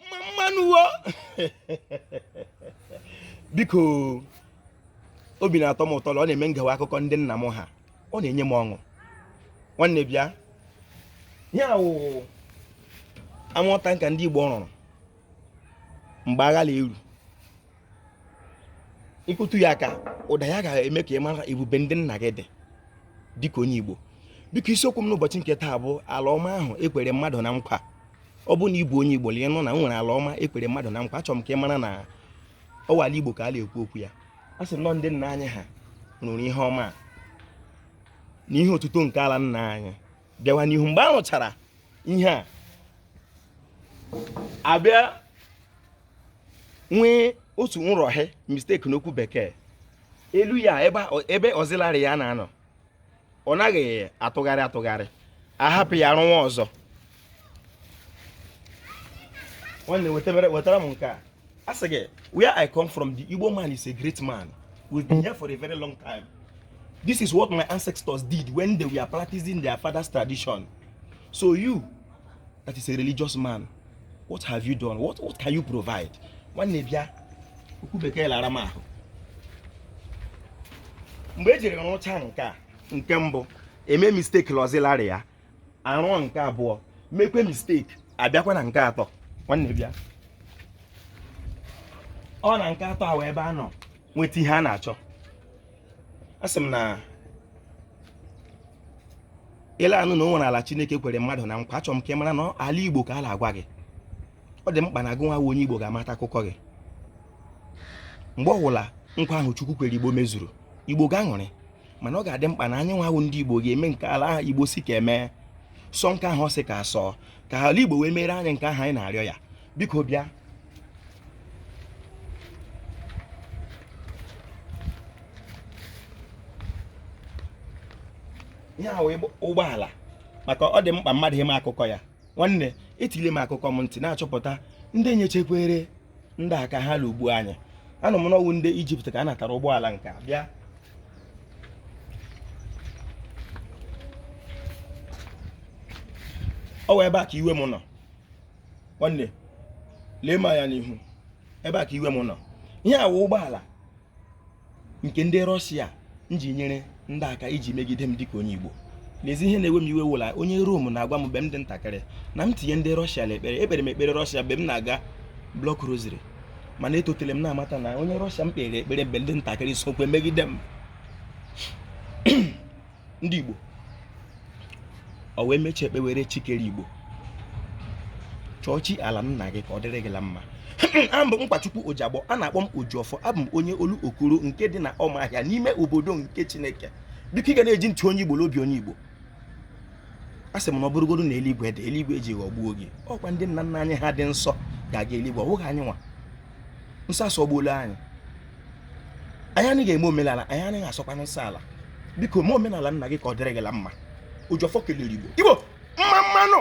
mmamma nụ wo biko obi na-atọ m ụtọ na ọ na-eme m gewa akụkọ ndị nna m ha ọ na-enye m ọṅụ nwanne bịa ihe a wụ armour tanker ndị Igbo rụrụ mgbe agha na-eru ịkụtụ ya aka ụda ya ga-eme ka ị mara ebube ndị nna gị dị dịka onye Igbo biko isiokwu m n'ụbọchị nke taa bụ ala ọma ahụ e kwere mmadụ na nkwa ọ bụrụ na ị bụ onye Igbo ị na-anụ na e nwere ala ọma e kwere mmadụ na nkwa achọrọ m ka ị mara na ọ wụ ala Igbo ka a na-ekwu okwu ya a sị na ọ ndị nna anyị ha rụrụ ihe ọma na ihe otuto nke ala nna anyị bịawa n'ihu mgbe a rụchara ihe a a bịa nwee otu nrụhie mistake n'okwu bekee elu ya ebe auxiliary ya na-anọ ọ naghị atụgharị atụgharị a hapụ ya rụwa ọzọ nwanne wetara m nke a a sị gị where i come from the igbo man is a great man we've been here for a very long time this is what my ancestors did when they were practicing their father's tradition so you that is a religious man what have you done what, what can you provide nwanne bịa okwu bekee na-ara m ahụ mgbe e jiri rụcha nke a nke mbụ e mee mistake na auxiliary ya a rụọ nke abụọ mekwe mistake a bịakwa na nke atọ nwanne bịa ọ na nke atọ a wụ ebe a nọ nweta ihe a na-achọ asị m na ị na-anụ na e nwere ala chineke kwere mmadụ na nkwa achọrọ m ka ị mara na ala igbo ka a na-agwa gị ọ dị mkpa na gị nwa onye igbo ga-amata akụkọ gị mgbe ọwụla nkwa ahụ chukwu kwere igbo mezuru igbo ga-aṅụrị mana ọ ga-adị mkpa na anyị nwa ndị igbo ga-eme nke ala ahụ igbo sị ka e mee sọọ nke ahụ ọ sị ka a sọọ ka ala igbo wee mere anyị nke ahụ anyị na-arịọ ya biko bịa ihe a wụ ụgbọala maka ọ dị mkpa mmadụ ịma akụkọ ya nwanne etile m akụkọ m ntị na-achọpụta ndị nyechekwere ndị aka ha lụgbuo anyị anụ m na ọ wụ ndị ijipt ka a natara ụgbọala nke a bịa ọ wụ ebe a ka iwe m nọ nwanne lee m anya n'ihu ebe a ka iwe m nọ ihe a wụ ụgbọala nke ndị rọshia ji nyere ndị aka iji megide m dịka onye igbo n'ezie ihe na-ewe m iwe wụ na onye rom na-agwa m mgbe m dị ntakịrị na m tinye ndị rọshia n'ekpere ekpere m ekpere rọshia mgbe m na-aga block rosary mana etotele m na-amata na onye rọshia m kpere ekpere mgbe m dị ntakịrị sokwe megide m ndị Igbo o wee mechie ekpewere chi kere Igbo chọọ chi ala nna gị ka ọ dịrị gị la mma abụ m Nkwachukwu Ojiagbọ a na-akpọ m Ojiọfọ abụ m onye Olokoro nke dị na Ọmahịa n'ime obodo nke Chineke biko ị ga na-eji ntụ onye Igbo n'obi onye Igbo asị m na ọ bụrụgodu na eluigwe dị eluigwe e ji ghọgbuo gị ọ kwa ndị nna nna anyị ha dị nsọ ga-aga eluigwe ọ bụghị anyị nwa nsọ asọgbuola anyị anyị anaghị eme omenala anyị anaghị asọkwa nsọ ala biko mee omenala nna gị ka ọ dịrị gị la mma Ojiọfọ kelere Igbo Igbo mma mma nụ